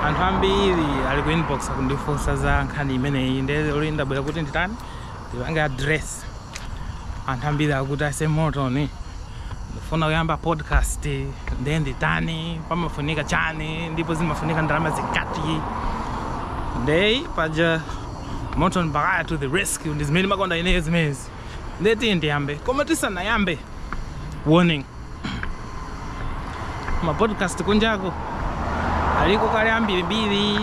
anthu ambiri ali ku inbox kundifunsa za nkhani imeneyi ndelo ndabwera kuti nditani ndipange address anthu ambiri akuti ase motoni ndifuna kuyamba podcast ndiye nditani pamafunika chani ndipo zimafunika ndalama zingati ndeyi paja moton baghaya to the rescue ndi zimene ndimakonda ineyo zimezi nde tiye ndiyambe koma tisanayambe warning mapodcast kunjako aliko kale ambirimbiri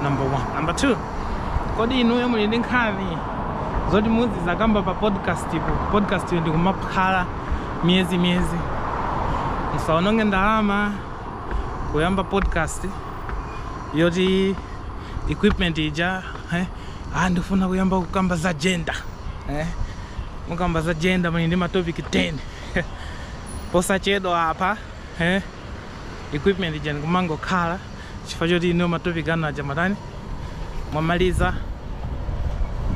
number one number two kodi inuyo muli ndi nkhani zoti muzizakamba pa podcast ipo podcast yo ndikumakhala miyezi miyezi musaononge ndalama kuyamba podcast yoti equipment ija eh, ah, ndifuna kuyamba kukamba za gender eh? mukamba za gender muli ndi matopic 10 posachedwa apa eh? equipment ija ndikumangokhala chifukwa choti inuyo matopic anu aja matani mwamaliza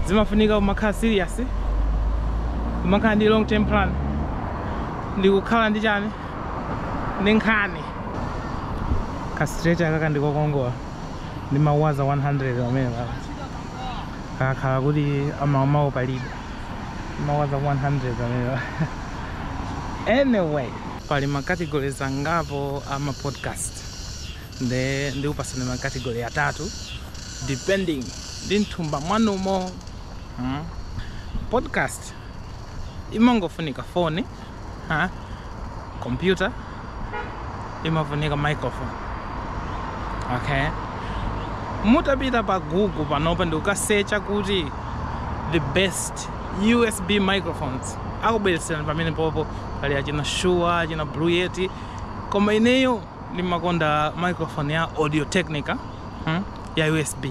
zimafunika kumakhala serious kumakhala ndi long term plan ndikukhala ndi chani ndi nkhani kastreta akaka ndikokongola ndi mawaza 100 amene akakhala kuti amamawo palibe mawaza 100 amene anyway pali macategories angapo ama podcast nde ndikupatsani macategory atatu depending ndi mthumba mwanumo hmm? podcast imangofunika foni ha kompyuta imafunika microphone okay mutapita pa google panopa ndikukasecha kuti the best usb microphones akubweretserani pamenepopo pali achina shure achina blue yeti koma ineyo ndimakonda microphone ya audio technica hmm? ya usb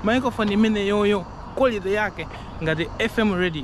microphone imeneyoyo quality yake ngati fm radio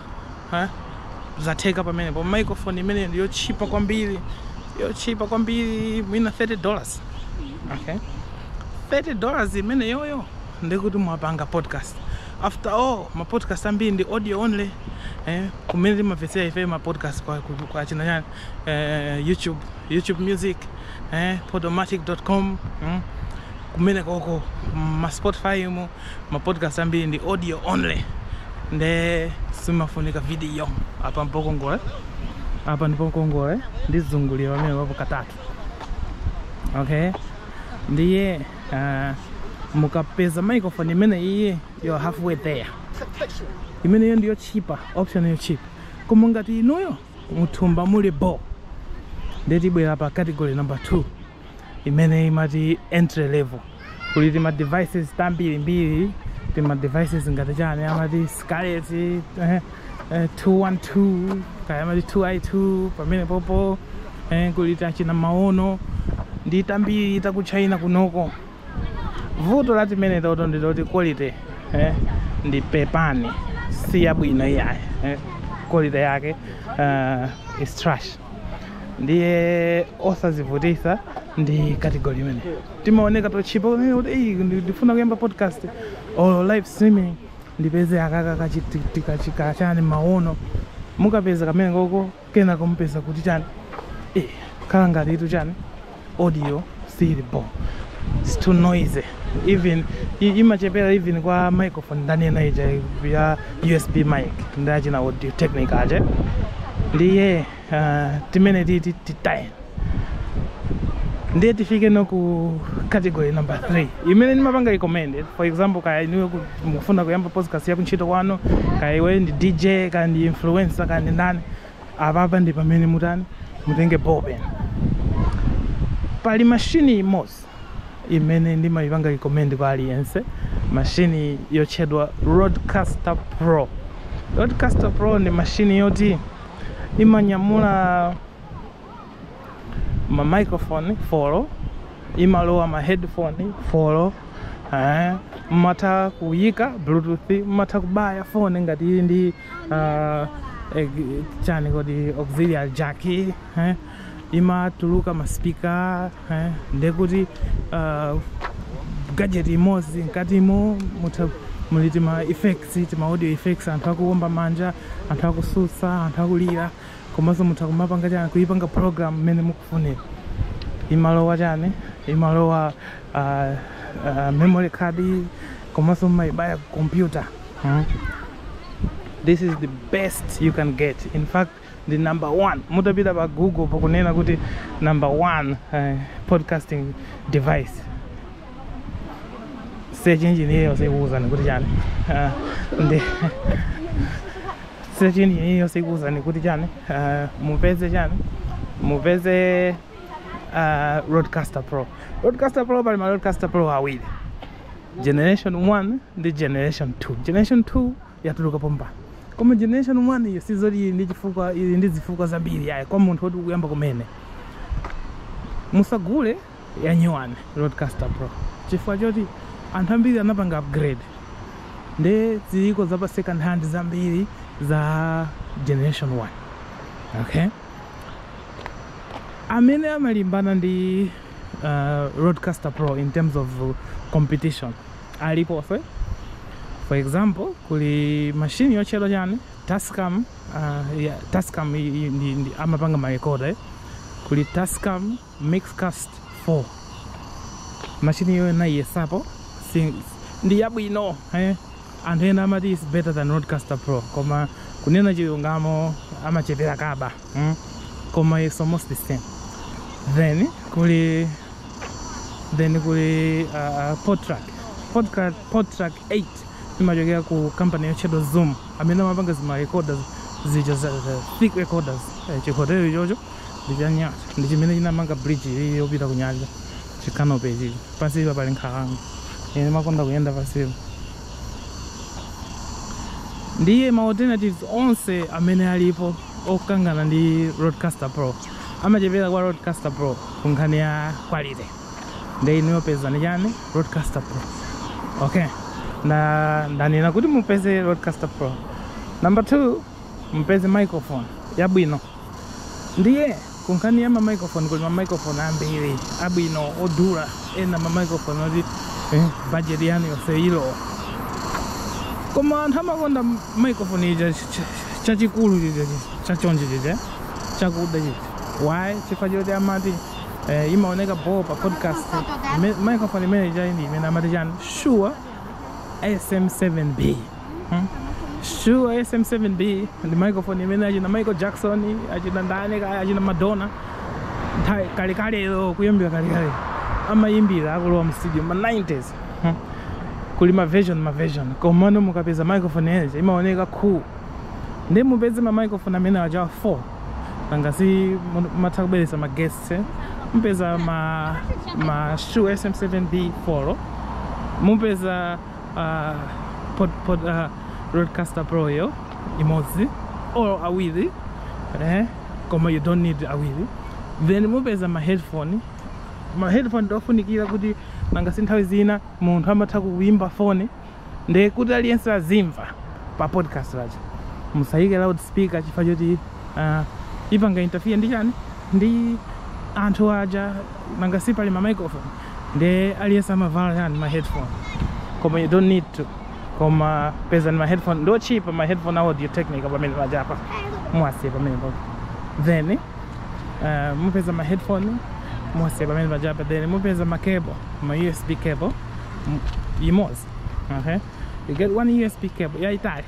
ha zatheka pamenepo microphone imeneyi ndi yotchipa kwambiri yotchipa kwambiri mwina 30 dollars okay 30 dollars imeneyoyo ndikuti mwapanga podcast after all ma podcast ambiri ndi audio only eh, kumene timamvetsera ife ma podcast kwa, kwa, kwa achina chani eh, youtube youtube music eh, podomatic.com mm, kumenekoko ma spotify mu ma podcast ambiri ndi audio only nde simafunika video apa mpokongole apa ndipokongole ndizungulire pamenepapo katatu okay ndiye uh, mukapeza microphone imeneyi you're halfway there imeneyo ndi yotchipa option yotchipa koma ngati inuyo muthumba muli bo nde tibwera pa category number 2 imene imati entry level kuli tima devices tambirimbiri tima devices ngati chani amati Scarlett eh, eh, 212 kaya amati 2i2 pamenepopo eh, kuli tachina maono ndi tambiri taku China kunoko vuto la timenetoto ndi loti quality eh, ndi pepani si yabwino iyayi eh, quality yake uh, is trash ndiye osazivutisa ndi category imene timaoneka tochipa pamene kuti "Ei, ndi- ndifuna kuyamba podcast or live streaming ndipeze akaka kachina kachani maono mukapeza kamenekoko kenako mupeza kuti chani eh, khala ngatitu chani audio sili bho it's too noisy even i- imachepera even kwa microphone ndanena ija ya usb mic ndachina Audio Technica aja ndiye uh, timenetiti titaye ndiye tifike tsono ku category number 3 imene ndimapanga recommend for example kaya inuyo ku- mukufuna kuyamba podcast ya kuntchito kwanu kaya iweyo ndi dj kaya ndi influencer kaya ndi ndani apapa ndi pamene mutani mutenge ball pen pali mashini imodzi imene ndimayipanga recommend kwa aliyense mashini yotchedwa Rodecaster Pro Rodecaster Pro ndi mashini yoti imanyamula ma microphone four imalowa ma headphone four eh, mmatha kuyika bluetooth mmatha kubaya phone ngati ili ndi ah, eh, chani kodi auxiliary jack eh, imatuluka ma speaker eh, ndekuti ah, gadget imodzi mkatimo mutha muli tima effects tima audio effects anthu akuwomba manja anthu akutsutsa anthu akulira komanso mutha kumapanga chani kuipanga program mmene mukufunira imalowa chani imalowa uh, uh, memory card komanso mumaibaya ku computer mm. this is the best you can get in fact the number one mutapita pa google pakunena kuti number one uh, podcasting device search engine iliyonse ikuwuzani kuti chani uh, ndi search engine iliyonse ikuwuzani kuti chani uh, mupeze chani mupeze uh, Rodecaster Pro Rodecaster Pro pali ma Rodecaster Pro awiri generation 1 ndi generation 2 generation 2 yatuluka pompano koma generation 1 iyo sizoti ili ndi zifukwa ili ndi zifukwa zambiri iyayi kwa munthu woti ukuyamba kumene musagule yanyuwani rodecaster pro chifukwa choti anthu ambiri anapanga upgrade nde ziliko za pa second hand zambiri za generation 1 okay amene amalimbana ndi uh, rodecaster pro in terms of competition alipo few for example kuli mashini yotchedwa chani tascam uh, yeah, tascam i- i- ndi- ndi- amapanga ma recorder eh? kuli tascam Mixcast 4 machine iyoyo nayiyesapo si ndi yabwino eh? anthu ena amati is better than rodecaster pro koma kunena chilungamo amachepera kaba mm? koma is almost the same then kuli then kuli uh, podtrack podtrack podtrack 8 imachokera ku company yotchedwa zoom amene amapanga zima recorder zija za za thick recorders eh, chihotelo ichocho ndi chanyasa ndi chimene chinamanga bridge iyi yopita kunyanja chikanope ichi pansipa pali nkhalango ine makonda kuyenda pansipa ndiye ma alternatives onse amene alipo okangana ndi rodecaster pro amachepera kwa rodecaster pro ku nkhani ya quality ndi inu yopeza ni chani rodecaster pro okay na ndanena kuti mupeze rodecaster pro number two mupeze microphone yabwino Ndiye ku nkhani ya ma microphone kuli ma microphone ambiri abwino odula ena ma microphone oti eh, budget yanu yonse ilo koma anthu amakonda m- microphone ija ch- ch- chachikulu chija chi- chachonchi chija chakuda chija why chifukwa choti amati eh, imaoneka bho pa podcast Ime- microphone imene ijayi ndi imene amati chani shure sm7b shure sm7b ndi microphone imene achina michael jackson achina ndani kaya achina madonna nthawi kalekaleyo kuyimbira kalekale amayimbira akulowa mu studio ma 90s Hmm. kuli ma version ma version komano mukapeza microphone imene ija imaoneka cool nde mupeze ma microphone amene aja 4 nanga si mu- matha kubweretsa ma guests eh? mupeza ma ma shure sm7b 4 mupeza uh, pod, pod, uh, rodecaster pro yo imodzi or awiri eh? koma you don't need awiri then mupeza ma headphone ma headphone ndofunikira kuti nanga si nthawi zina munthu amatha kuimba foni nde kuti aliyense azimva pa podcast lacho musayike loud speaker chifukwa choti uh, ipanga interfere ndi chani ndi anthu aja nanga si pali ma microphone nde aliyense amavala chani ma headphone koma you don't need to koma pezani ma headphone ndo cheap ma headphone a audio technica pamene pajapa mwasiye pamene pa then uh, mupeza ma headphone mwasiye pamene pajapa then mupeza ma cable ma usb cable m- yimozi okay you get one usb cable yaitali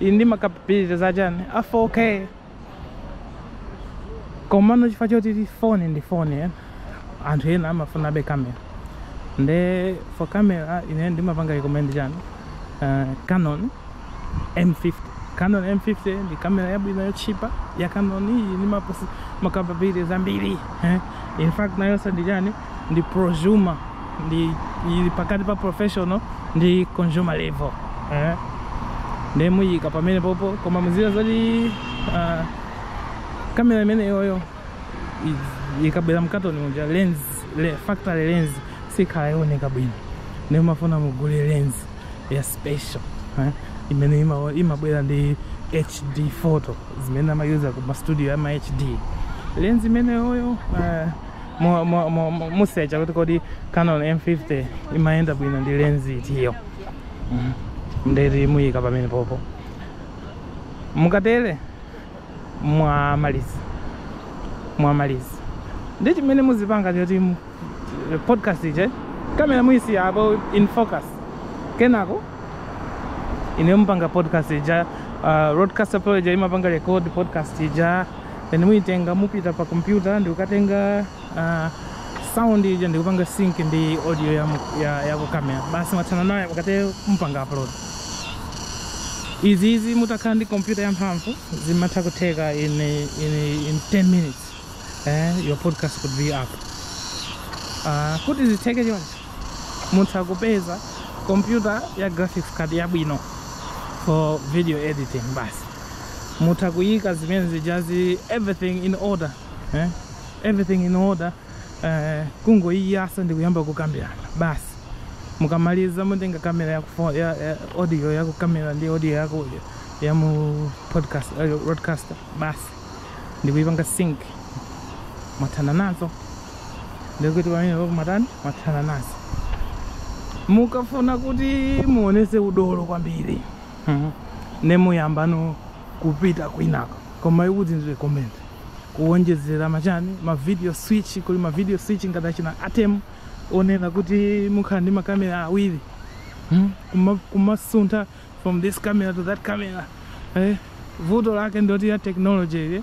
ili ndi ma capabilities achani a 4k komano chifukwa choti phone ndi phone eh, anthu ena amafunabe camera nde for camera ine ndimapanga recommend chani uh, canon m50 canon m50 ndi kamera yabwino yotchipa ya canon iyi ndi ma capabilities ambiri eh. in fact nayonso ndi chani ndi prosumer ndi ili pakati pa professional ndi consumer level eh? ndiye muyika pamene popo koma muziwa zoti uh, kamera imene iyoyo i- ikabwera mkatoni muja lens le, factory lens sikhala yooneka bwino ndiye mufuna mugule lens ya special eh? imene ima- imabwera ndi hd photo zimene amayuza ku ma studio ya ma hd lens imeneyoyo uh, musecha kuti kodi canon m50 imayenda bwino ndi lenzi itiyo mhm. ndeti muyika pamene popo mukatele mwamaliza mwamaliza ndi chimene muzipanga choti eh, podcast ija kamera muyisiya apo in focus kenako inuyo mupanga podcast ija uh, rodecaster pro ija imapanga record podcast ija then muitenga mupita pa kompyuta ndikukatenga uh, sound ija ndikupanga sync ndi audio ya, ya, ya ku camera basi mwathana nayo mukatero mupanga upload izizi mutakhala ndi kompyuta ya mphamvu zimatha kutheka in, in, in 10 minutes eh, your podcast could be up uh, kuti zitheke choncho mutha kupeza kompyuta ya graphics card yabwino for video editing basi mutha kuyika zimene zijazi everything in order eh? everything in order eh, kungoyiyasa ndi kuyamba kukambirana basi mukamaliza mutenga kamera yaku fo- ya, ya audio yaku kamera ndi audio yaku ya mu podcast eh, rodecaster basi ndikuyipanga sync mwathana nazo ndikuti pamene papo matani mwathana nazo mukafuna kuti muonese udolo kwambiri Mhm. nde muyambano kupita kwinako koma sikuti ndi recommend kuwonjezera machani ma video switch kuli ma video switch ngati achina atem onena kuti mukhala ndi makamera awiri Mhm. Kuma- kumasuntha from this camera to that camera eh? vuto lake ndoti technology ili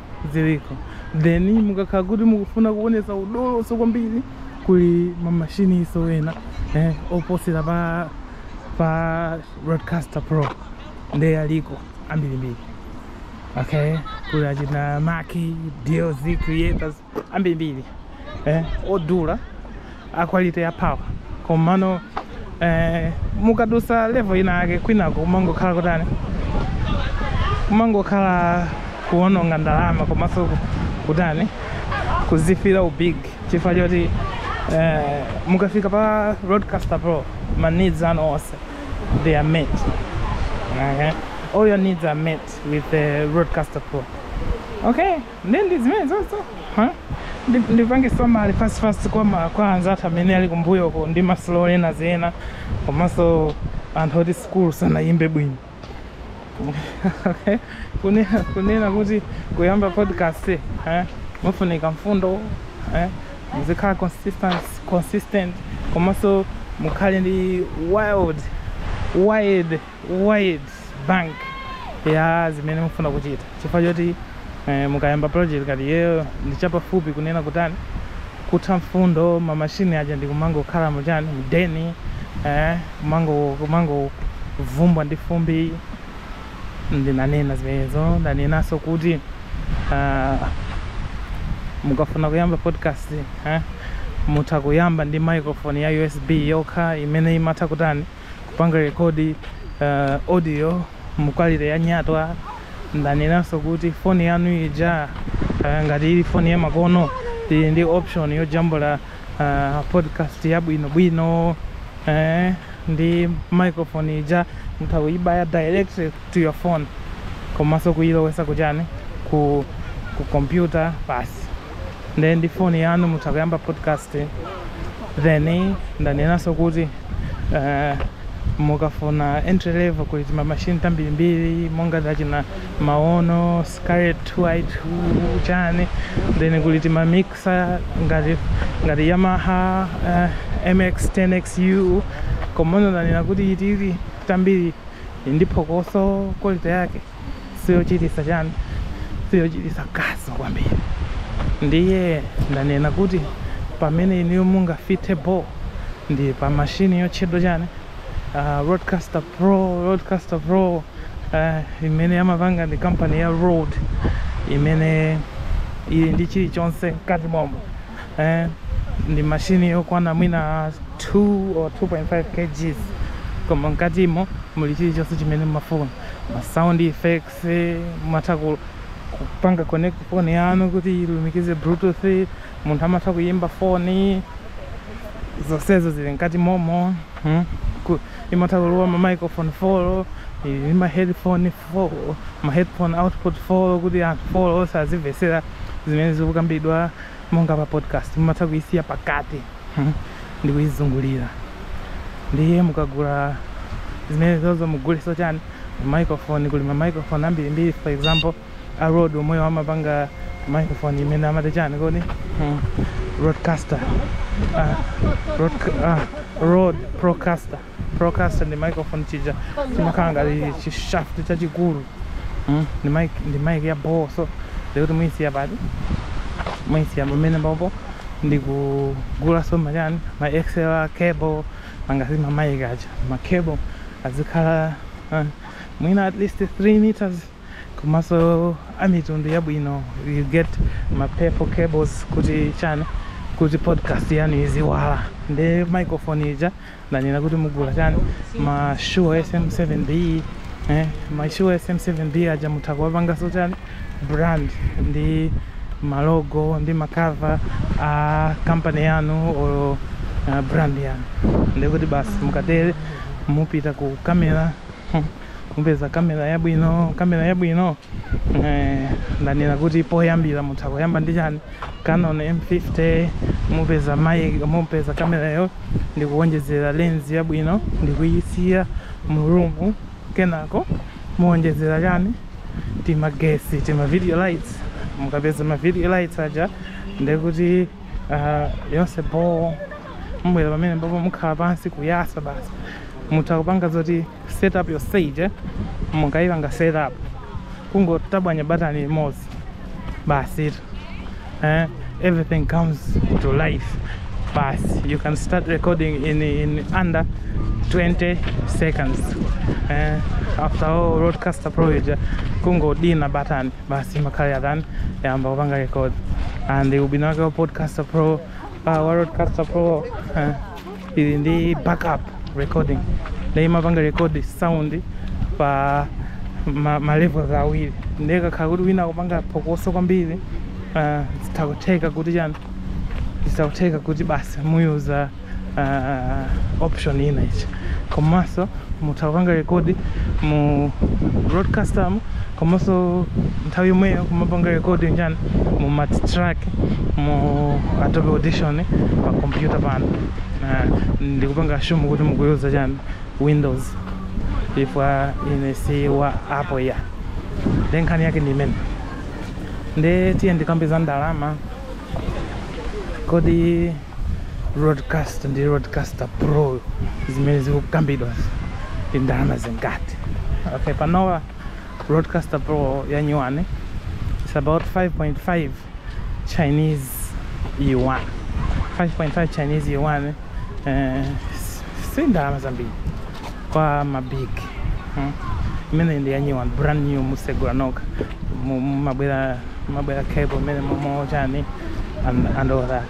ziliko then mukakhala kuti mukufuna kuonesa udoloso kwambiri kuli mamashini enanso ena eh, oposera pa pa Rodecaster pro nde aliko ambirimbiri okay kuli achina Mackie DLZ creators ambirimbiri eh, odula a quality ya power komano eh, mukadusa level ina yake kwinako kumangokhala kutani kumangokhala kuononga ndalama komanso ku- kutani kuzifira ubig chifukwa choti eh, mukafika pa Rodecaster pro ma needs anu onse they are met okay? all your needs are met with the Rodecaster pro okay nde ndi zimenezozo huh? Ndi- ndipange summary fast fast kwa ma- kwa anzathu amene ali kumbuyoko ndi ma slow learners ena komanso anthu oti sikulu sinayende bwino Okay. kunena kunena kuti kuyamba podcast eh, mufunika mfundo eh, muzikhala consistent, consistent komanso mukhale ndi wide wide wide bank ya zimene mufuna kuchita chifukwa choti eh, mukayamba project ngati iyeyo ndi chapafupi kunena kutani kutha mfundo mamashini aja ndi kumangokhala muchani mdeni eh, kumango- kumangovumbwa ndi fumbi ndanena zimenezo ndanenanso kuti ah, mukafuna kuyamba podcast eh, mutha kuyamba ndi microphone ya usb yokha imene imatha kutani kupanga record uh, audio mu quality ya nyatwa ndanenanso kuti foni yanu ija uh, ngati ili foni ya makono ili ndi option yojambula uh, podcast yabwinobwino eh, ndi microphone ija mutha kuyibaya direct to your phone komanso kuyilowesa kuchani ku, ku computer basi nde ndi foni yanu mutha kuyamba podcast then ndanenanso kuti uh, mukafuna entry level kuli tima machine tambirimbiri monga tachina maono Scarlett 2i2 chani then kuli tima mixer ngati ngati yamaha uh, MG 10xu komano ndanena kuti iti tili tambiri ndi phokoso quality yake siyochitisa chani siyochitisa kaso kwambiri ndiye ndanena kuti pamene inuyo mungafike bo ndi pa mashini yotchedwa chani uh, Rodecaster pro Rodecaster pro uh, imene amapanga ndi kampani ya Rode imene ili ndi chilichonse mkati momo eh, ndi mashini yokwana mwina 2 or 2.5 kgs koma mkatimo muli chilichonse chimene mumafuna ma sound effects mumatha kupanga connect phone yanu kuti ilumikize bluetooth munthu amatha kuyimba foni zonsezo zili mkati momo hmm imatha kulowa ma microphone 4 ili ma headphone 4 ma headphone output 4 kuti anthu 4 onse azimvetsera zimene zikukambidwa monga pa podcast mumatha kuisiya pakati hmm, ndi kuizungulira ndiye mukagula zimene zozo mugulenso chani microphone kuli ma microphone ambiri mbiri for example a Rode omwewo amapanga microphone imene amati chani kodi hmm. Rodecaster uh, Rode, uh, Rode Procaster Procaster ndi microphone chija chimakhala ngati chishaft chachikulu Mm, ndi mic ndi mic ya bhoo so ndekuti muyisiya pati muyisiya pamene papo ndikugulanso machani ma xlr cable angati ma mic aja ma cable azikhala uh, mwina at least 3 meters komanso amitundu yabwino you get ma purple cables kuti chani kuti podcast yanu iziwala ndi microphone ija ndanena kuti mugula chani ma Shure sm7b eh, ma Shure sm7b aja mutha kuwapanganso chani brand ndi malogo ndi makava a kampani yanu olo uh, brand yanu ndekuti basi mukatere mupita ku kamera mupeza kamera yabwino kamera yabwino eh, ndanena kuti poyambira mutha kuyamba ndi chani canon m50 mupeza ma mupeza kamerayo ndikuwonjezera lens yabwino ndikuyisiya mu room kenako muwonjezera chani timagesi tima video lights mukapeza ma video lights aja ndekuti uh, yonse bho mubwera pamene mpapo mukhala pansi kuyatsa basi mutha kupanga zoti set up your stage eh? mukayipanga set up kungotabwanya batani limodzi basi ito eh? everything comes to life basi you can start recording in, in under 20 seconds eh? after all Rodecaster Pro ija kungodina batani basi imakhala yatani yayamba kupanga record and ubwino wake wa podcaster pro uh, wa Rodecaster pro uh, ili ndi backup recording nde imapanga record sound pa ma, ma levels awiri nde kukakhala kuti wina akupanga phokoso kwambiri uh, zitha kutheka kuti chani zitha kutheka kuti basi muyuza uh, option ina ichi komanso mutha kupanga rekodi mu roadcaster mu komanso nthawi yomweyo kumapanga rekodi chani mu multitrack mu adobe audition pa kompyuta pano uh, ndikupanga assume kuti mukuyuza chani windows chifukwa ine si wa apple ya nde nkhani yake ndi imene nde tiye ndikambe za ndalama kodi roadcaster ndi roadcaster pro zimene zikukambidwazo ndi ndalama zingati okay panowa roadcaster pro ya nyuwani it's about 5.5 chinese yuan 5.5 chinese yuan eh, s- si ndalama zambiri kwa mabig hmm? imene ndi ya nyuwani brand new musegula nokha Mu- mu- mabwera mabwera cable mmenemo chani and, and all that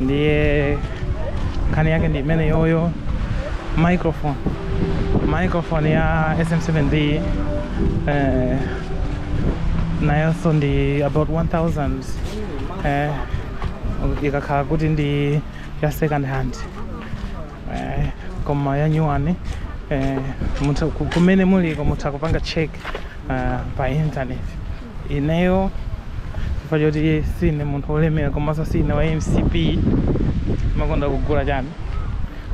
ndiye nkhani yake ndi imeneyoyo microphone microphone ya sm7b eh, nayonso ndi about 1000 eh, ikakhala kuti ndi ya second hand eh, koma yanyuwani eh, mutha ku- kumene muliko mutha kupanga check eh, pa internet ineyo chifukwa choti sine munthu wolemera komanso sine wa mcp makonda kugula chani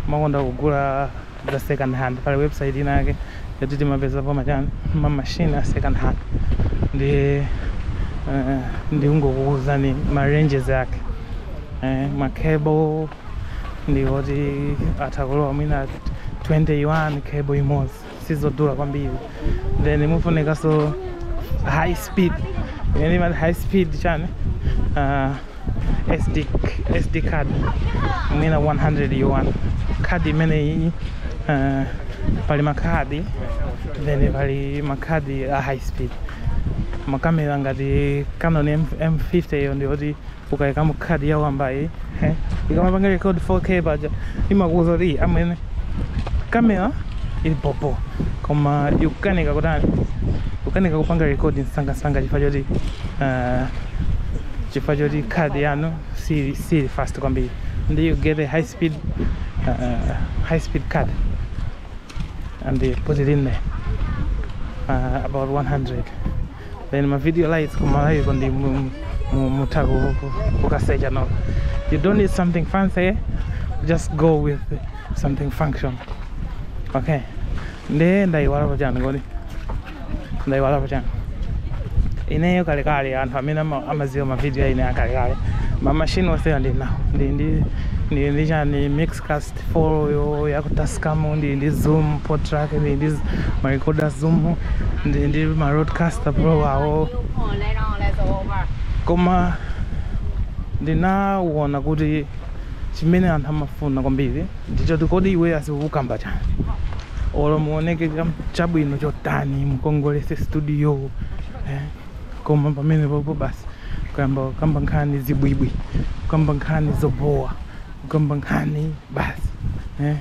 makonda kugula za second hand pali website inake yoti timapezapo machani mamashini a second hand nde eh, ndikungokuuzani ma ranges ake eh, ma cable ndiwoti atha kulowa mwina 20 yuan cable imodzi sizodula kwambiri then mufunikanso high speed imene imati high speed chani uh, SD, SD card mwina 100 yuan card imeneyi uh, pali makhadi then pali makhadi a high speed makamera ngati canon M- m50 iyo ndiyoti ukaikamo khadi ya wambayi eh, ikamapanga record 4k paja imakuuza kuti "Ih, amwene kamera ili bhobho koma ikukanika kutani kukanika kupanga record msangamsanga chifukwa choti eh, chifukwa choti khadi yanu siili fast kwambiri nde you get a high speed uh, high speed card and then put it in there uh, about 100 then ma video lights kumalawiko nde mu- mu- mu- mutha ku- ku- kukasecha no you don't need something fancy just go with something functional okay nde ndayiwalapo chani kodi ndayiwalapo chani ineyo kalekale anthu amene ama- amaziwa mavidiyo aine akalekale mamashini onsewa ndi nawo ndi ndi ndi ndi chani mixcast 4 yo ya Tascam ndi ndi Zoom PodTrak ndi ndi ma recorder Zoom ndi ndi ma Rodecaster Pro awo koma ndinawona kuti chimene anthu amafuna kwambiri ndichoti kodi iwe uzikukamba chani olo muoneke chabwino chotani mukongolese studio eh? koma pamene popo basi kuyamba kukamba nkhani zibwibwi kukamba nkhani zobowa kukamba nkhani basi eh?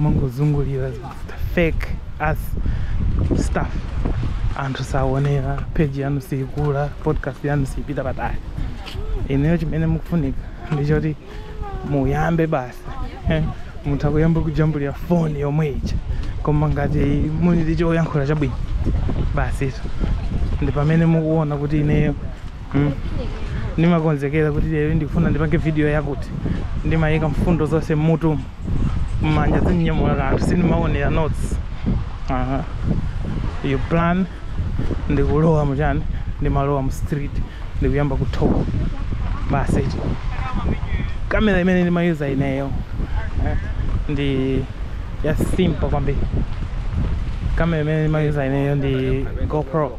mangozungulira fake as stuff anthu saonera page yanu siikula podcast yanu siipita patali ndiye chimene chikufunika ndichoti muyambe basi eh? mutha kuyamba kujambulira foni yomwe ija koma ngati muli ndi choyankhula chabwino basi izo ndi pamene mukuona kuti ineyo hmm? ndimakonzekera kuti lero ndikufuna ndipange video yakuti ndimayika mfundo zonse mmutu mmanja sindinyamula kanthu sindimaonera notes uh -huh. you plan ndikulowa muchani ndimalowa mu street ndikuyamba kuthoka basi ichi kamera imene ndimayuza ineyo eh, ndi ya simple kwambiri kamera imene ndimayuza ineyo ndi gopro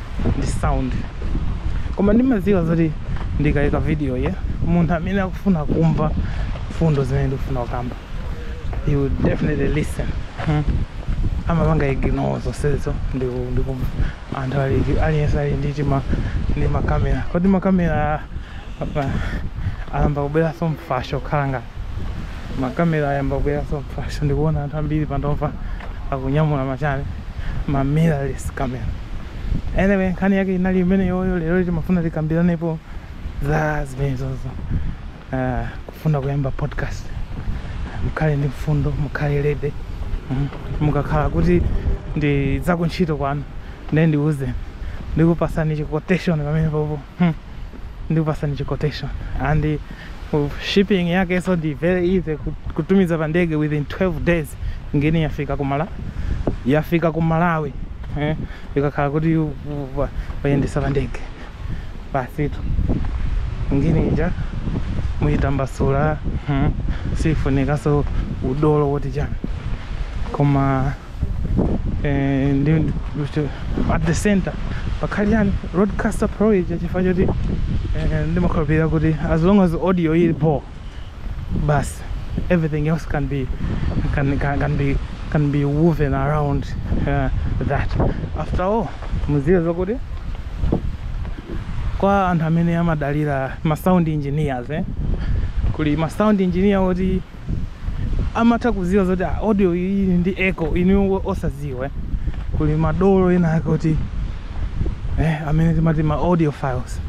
ndi sound koma ndimadziwa zoti ndikaika video yo munthu amene akufuna kumva mfundo zimene ndikufuna kukamba he will definitely listen hmm? amapanga ignore zonsezo ndikumva anthu aliyense ali ndi tima ndi makamera kodi makamera apa ayamba kubweranso mfasho kukhala ngati makamera ayamba kubweranso mfasho ndikuona anthu ambiri panopa akunyamula machani ma mirrorless camera anyway nkhani yake inali imeneyoyo lero timafuna tikambiranepo za zimenezozo uh, kufuna kuyamba podcast mukhale ndi mfundo mukhale ready mm. mukakhala kuti ndi zakuntchito kwanu ndiye ndiuze ndikupatseni chi quotation pamene popo hmm. ndikupasani chi quotation and uh, shipping yake so ndi very easy kut- kutumiza pa ndege within 12 days ngeni yafika kumala yafika ku malawi eh, ikakhala kuti u- u- wa- wayendesa pa ndege basitu ngeni ija muyitambasula hmm. sifunikaso udolo woti chani koma eh, ndi at the center pakhale chani Rodecaster pro ija chifukwa choti eh, ndimakhulupirira kuti as long as audio ili bho basi everything else can be can, can, can be can be woven around uh, that after all muziwe zokuti kwa anthu amene amadalira ma sound engineers eh? kuli ma sound engineer oti amatha kuziwa zoti ah, audio iyi ndi echo inu osaziwe kuli madolo ena ake kuti eh, amene timati ma audio files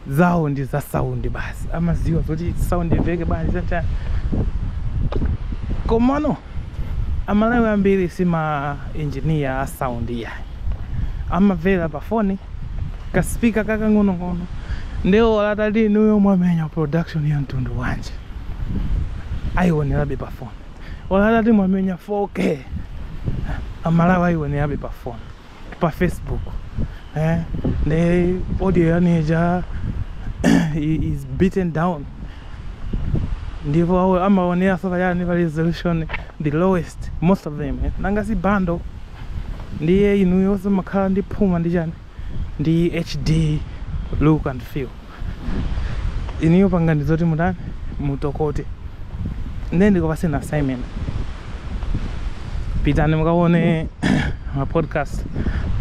zawo ndi za sound basi amaziwa zoti sound iveke basi chacha komano amalawi ambiri si ma engineer a sound iyayi amavera pa phone ka speaker kakang'onong'ono ndiye olo atati inuyo mwamenya production ya mtundu wanji ayionerabe pa phone olo atati mwamenya 4k amalawi ayionerabe pa phone pa facebook eh? the audio yaneja is beaten down ndipo amaoneraso chani pa resolution the lowest most of them eh? nanga si bando ndiye inuyo simumakhala ndi phuma ndi chani ndi HD look and feel. Inuyo pangani zoti mutani mutokote. Ndiye ndikupatseni assignment. Pitani mukaone ma podcast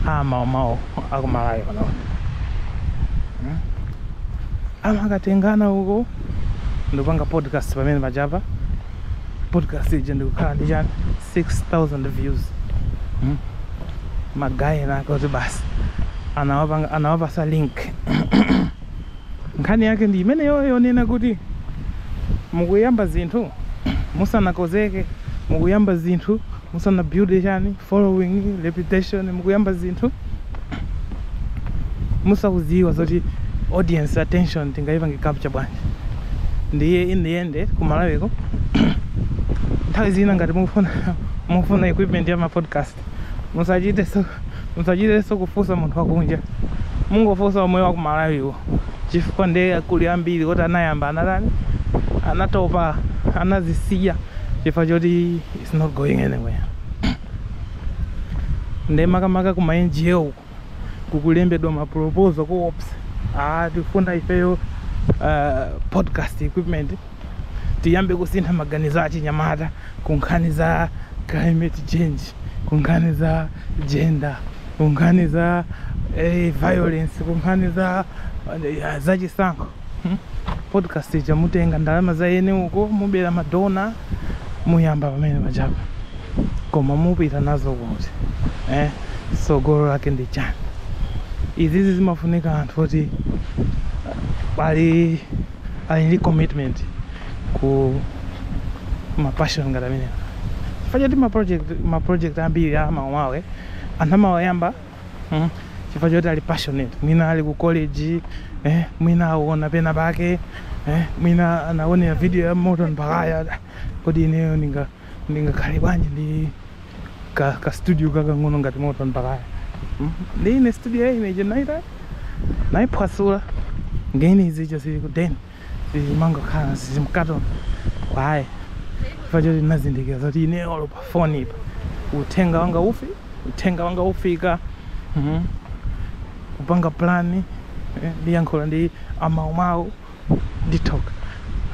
a mawawa akumalawi pano. Hmm? Amakatengana uko ndikupanga podcast pomwe paja pa. podcast ija ndikukhala ndi chani 6000 views hmm? magaye enaake oti basi anawapa anawapasa link nkhani yake ndi imeneyoyo yonena kuti mukuyamba zinthu musanakozeke mukuyamba zinthu musana build chani following reputation mukuyamba zinthu musakuziwa zoti audience attention tingaipange capture bwanji ndiye in the end ku malawiko nthawi zina ngati mufuna mufuna equipment ya ma podcast musachiteso musachiteso kufusa munthu wakunja mungofusa omwe wa ku malawiwo chifukwa ndiye kuli ambiri oti anayamba anatani anatopa anazisiya chifukwa choti it's not going anywhere ndiye makamaka kuma ngo uku kukulembedwa maproposal koopsa ah, tifuna ifeyo uh, podcast equipment tiyambe kusintha maganizo a chinyamata ku nkhani za climate change ku nkhani za gender ku nkhani za eh, violence ku nkhani za eh, za chisankho hmm? podcast ija mutenga ndalama za ene uko mubera ma donor muyamba pomwe paja pa koma mupita nazo kuti eh? sogolo lake ndi chani izizi zimafunika anthu oti ali ali ndi commitment ku mapassion ngati amenewa chifukwa choti maproject maproject ambiri a mawawa anthu amawayamba mm? chifukwa choti ali passionate mwina ali ku college eh, mwina aona pena pake eh, mwina anaonera video ya Morton Baghaya kodi ineyo ndinga ndingakhale bwanji ndi ka, ka studio kakang'ono ngati Morton Baghaya mm? ndi ine studio ya ine je naiphwasula ngeni izicho zili ku deni zimangokhala zili mkatoni kwaye chifukwa choti ndinazindikira zoti ine olo pa foni ipa uthenga wanga ufi uthenga wanga ufika mm. kupanga plani eh, ndiyankhula ndi amaumawu ndithoka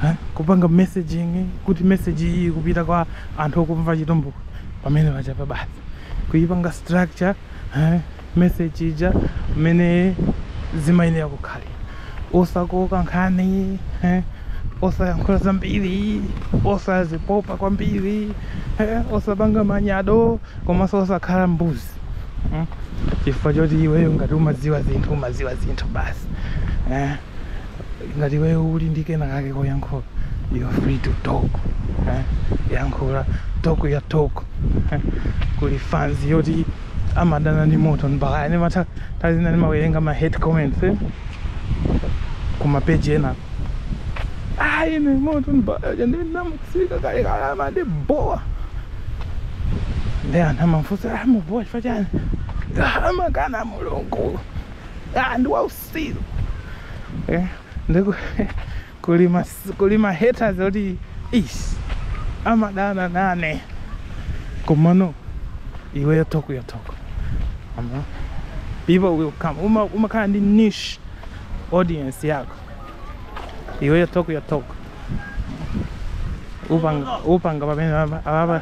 eh, kupanga messaging kuti message iyi ikupita kwa anthu okumva chitumbuka pamene pachapa basi kuipanga structure eh, message ija mmene zimayenera kukhalira osakoka nkhani eh, osayankhula zambiri osazipopa kwambiri eh, osapanga manyado komanso osakhala mbuzi mm. chifukwa choti iweyo ngati umadziwa zinthu umadziwa zinthu basi eh. ngati iweyo uli ndi kena kake koyankhula you are free to talk eh? yankhula talk ya talk eh? kuli fans yoti amadana ndi Morton Baghaya nde nthawi zina ndimawerenga ma hate comments eh? kuma page ena ayi ni Morton Baghaya ndinamutulukira kalekale amandibowa nde anthu amafunsa amakubowa chifukwa chani amakana mulungu ah ndi wausi silu eh, ndiko kulima kulima haters oti is amadana nane komano iweyo talk your talk ama people will come uma umakhala ndi niche audience yako iweyo talk your talk upanga upanga pamene ababa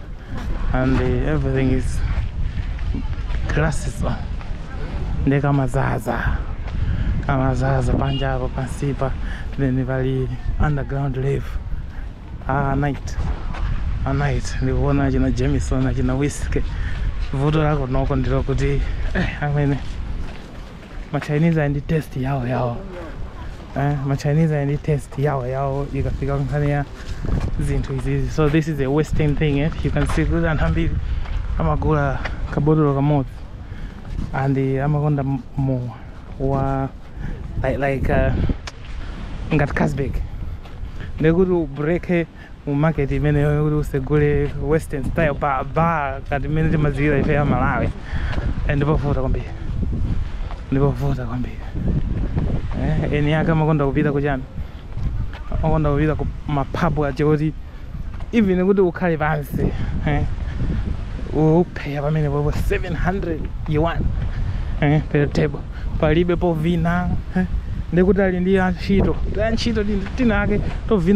and uh, everything is glasses on nde kamazaza kamazaza panja apo pansipa then pali underground live ah, night a night ndikuona achina jamison achina whisky vuto la kunoko ndilokuti eh, amene ma Chinese ali ndi test yawo yawo eh, ma Chinese ali ndi test yawo yawo ikafika nkhani ya zinthu izizi so this is a western thing eh? you can see kuti anthu ambiri amagula kabotolo kamodzi and eh, amakonda m- mowa wa like, like uh, ngati casbek ndekuti ubreake mu market imeneyo kuti usegule western style pa bar kati imene timadziwira ife ya malawi Eh, ndipovuta kwambiri ndipovuta kwambiri eh, eni ake amakonda kupita kuchani amakonda kupita ku maphabu achoti even kuti ukhale pansi eh, upeya pamene popo 700 yuan eh, per table palibe povina eh, ndikuti ali ndi antchito antchito tinake tovina